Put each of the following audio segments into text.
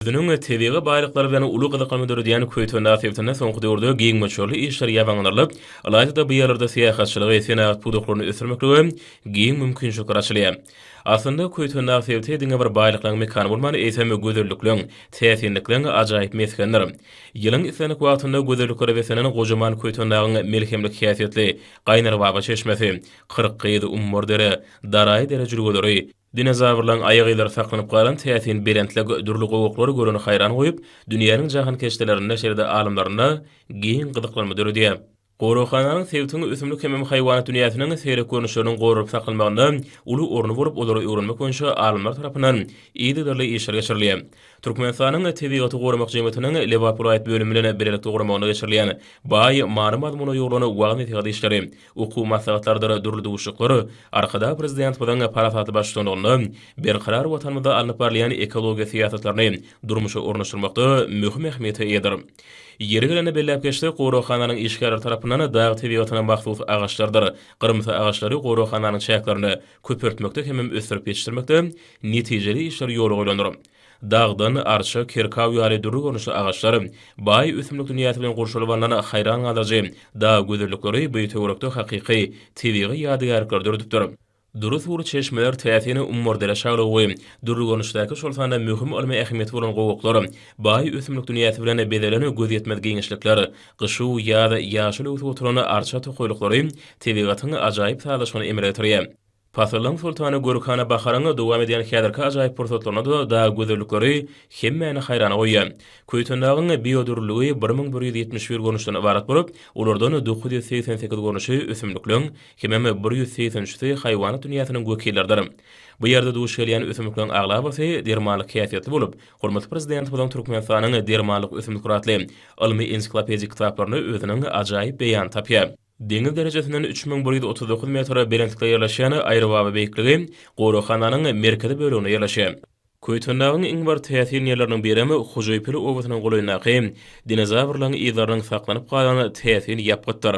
özüniň tebigy baýlyklary bilen uly gyzyklanma döredýän Köýten dagy sebitinde soňky döwürde giň möçberli işler ýabanylarylyp, ylaýta-da bu ýerlerde syýahatçylygy, senagat pudaklaryny ösdürmeklige giň mümkinçilikler açylýar. Aslynda, Köýten dagy sebiti diňe bir baýlyklaryň mekany bolman, eýsem, gözellikleň, täsinlikleň ajaýyp mesgenidir. Ýylyň islendik wagtynda gözelliklere beslenen gojaman Köýten dagyň melhemlik häsiýetli Gaýnarbaba çeşmesi, Kyrkgyz, Ummardere, Daraýy dere jülgeleri, Dinozawrlaryň aýak yzlary saklanyp galan täsin belentlik dürli gowaklar göreni haýran goýup, dünýäniň jahankeşdelerinde, şeýle-de alymlarynda giň gyzyklanma döredýär. Goraghananyň sebitiň ösümlik hemem haýwanat dünýäsiniň seýrek görnüşleriniň goralyp saklanmagynda uly orny bolup, olary öwrenmek boýunça alymlar tarapyndan yzygiderli işler geçirilýär. Türkmenistanyň Tebigaty goramak jemgyýetiniň Lebap welaýat bölümi bilen bilelikde guramagynda geçirilýän baý many-mazmuna ýugrulan wagyz-nesihat işleri, Okuw maslahatlarydyr dürli duşuşyklar Arkadag Prezidentimiziň parasatly baştutanlygynda Berkarar Watanymyzda alnyp barylýan ekologiýa syýasatlaryny durmuşa ornaşdyrmakda möhüm ähmiýete eýedir. Ýeri gelende belläp geçsek, goraghananyň işgärleri tarapyndan dag tebigatyna mahsus agaçlarydyr gyrymsy agaçlary goraghananyň çäklerinde köpeltmekde hemem ösdürip ýetişdirmekde netijeli işler ýola goýlandyr. Dagdan, arça, kirkaw ýaly dürli görnüşli agaçlar, baý ösümlik dünýäsi bilen gurşalyp alnan haýran galdyryjy dag gözellikleri bu töwerekde hakyky tebigy ýadygärlikleri döredipdir. Dury suwly çeşmeler, täsin ummurdere şaglugy, dürli görnüşdäki, şol sanda möhüm ylmy ähmiýeti bolan gowaklar, baý ösümlik dünýäsi bilen bezelen gözýetmez giňişlikler, gyş-u ýaz ýaşyl öwsüp oturan arça tokaýlyklary tebigatyň ajaýyp sazlaşygyny emele getirýär. Pasyllaryň soltany Gürkhana baharyň dowam edýän häzirki ajaýyp pursatlarynda-da dag gözellikleri hemmäni haýrana goýýar. Köýtendagyň biodürlüligi bir müň bir ýüz ýetmiş bir görnüşden ybarat bolup, olardan dokuz ýüz segsen sekiz görnüşi ösümlikleň, hemem bir ýüz segsen üçüsi haýwanat dünýäsiniň wekilleridir. Bu ýerde duş gelýän ösümlikleň aglabasy dermanlyk häsiýetli bolup, hormatly Prezidentimiziň Türkmenistanyň dermanlyk ösümlikleri atly ylmy-ensiklopedik kitaplarynda özüniň ajaýyp beýanyny tapýar. Deňiz derejesinden üç müň bir ýüz otuz dokuz metr belentlikde ýerleşýän Aýrybaba beýikligi goraghananyň merkezi böleginde ýerleşýär. Köýtendagyň iň bir täsin ýerleriniň birem Hojaýpil obasynyň golaýyndaky dinozawrlaryň yzlarynyň saklanyp galan täsin ýapgytdyr.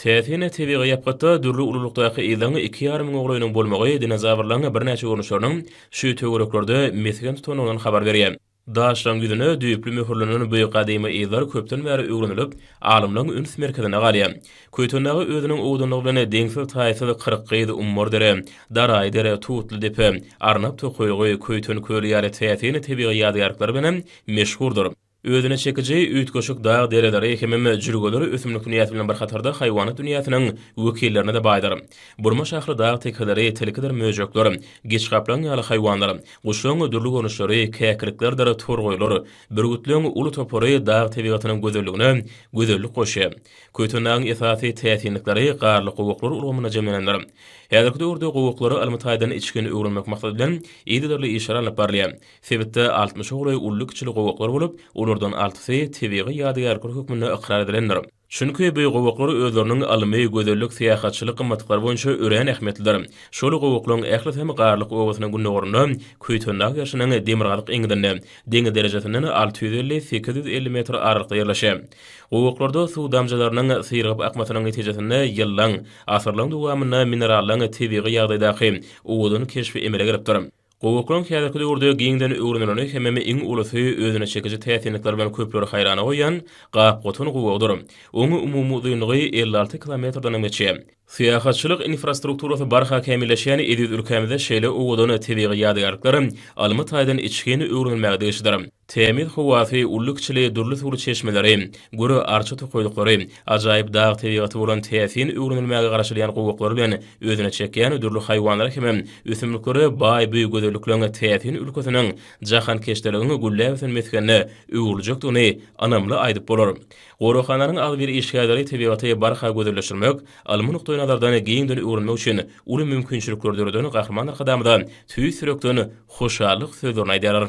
Täsin tebigy ýapgytda dürli ululykdaky yzyň iki ýarym golaýynyň bolmagy dinozawrlaryň birnäçe görnüşleriniň şu töwereklerde mesgen tutandygyndan habar berýär. Daşlaryň ýüzüne düýpli möhürlenen bu gadymy yzlar köpden bäri öwrenilip, alymlaryň üns merkezinde galýar. Köýtendaga özüniň owdanlygy bilen deňsiz-taýsyz Kyrkgyz, Ummardere, Daraýdere, Tutlydepe, Arnap tokaýlygy, Köýten köli ýaly täsin tebigy ýadygärlikleri bilen hem meşhurdyr. Özüne çekiji üýtgeşik dag dereleri hemem jülgeler ösümlik dünýäsi bilen bir hatarda haýwanat dünýäsiniň wekillerine-de baýdyr. Burma şahly dag tekeleri, tilkidir möjekler, giçgaplaň ýaly haýwanlar, Guşlaryň dürli görnüşleri, käkiliklerdir torgaýlar, bürgütleriň uly topary dag tebigatynyň gözelligine gözellik goşýar. Köýtendagyň esasy täsinlikleri garly gowaklar ulgamynda jemlenendir. Häzirki döwürde gowaklara ylmy-taýdan içgin öwrenmek maksady bilen yzygiderli işler alnyp barylýar. Sebitde altmyşa golaý uly-kiçili gowaklar bolup, olardan altysy tebigy ýadygärlikler hökmünde ykrar edilendir. Çünki bu gowaklar özleriniň ylmy, gözellik, syýahatçylyk gymmatlyklary boýunça örän ähmiýetlidir. Şol gowaklygyň ählisem Garlyk obasynyň gündogarynda, Köýtendag ýaşynyň demirgazyk eňňidinde, deňiz derejesinden alty ýüz elli, sekiz ýüz elli metr aralykda ýerleşýär. Gowaklarda suw damjalarynyň syrygyp akmasynyň netijesinde ýyllaň, asyrlaň dowamynda minerallaň tebigy ýagdaýdaky owadan keşbi emele gelipdir. Gowy okunyň häzirki döwürde giňden öwrenileni hemem iň ulusy özüne çekiji täsinlikleri bilen köpleri haýrana goýýan gap-gotan gowugydyr. Oň umumy uzynlygy elli alty kilometrdenem geçýär. Syýahatçylyk infrastrukturasy barha kämilleşýän eziz ülkämizde şeýle owadan tebigy ýadygärlikler almy taýdan içgin öwrenilmäge degişlidir. Tämiz howasy, uly-kiçili dürli suwly çeşmeleri, güri arça tokaýlyklary, ajaýyp dag tebigaty bolan täsin öwrenilmäge garaşylýan gowaklar bilen özüne çekýän dürli haýwanlara hemem ösümliklere baý bu gözellikleň täsin ülkesiniň jahankeşdeligiň gülläp ösen mesgenine öwrüljekdigini ynamly aýdyp bolar. Goraghananyň agzybir işgärleri tebigaty barha gözelleşdirmek, ylmy nukdaýnazardan giňden öwrenmek üçin uly mümkinçilikleri döreden Gahryman Arkadagymyza tüýs ýürekden hoşallyk sözlerini aýdýarlar.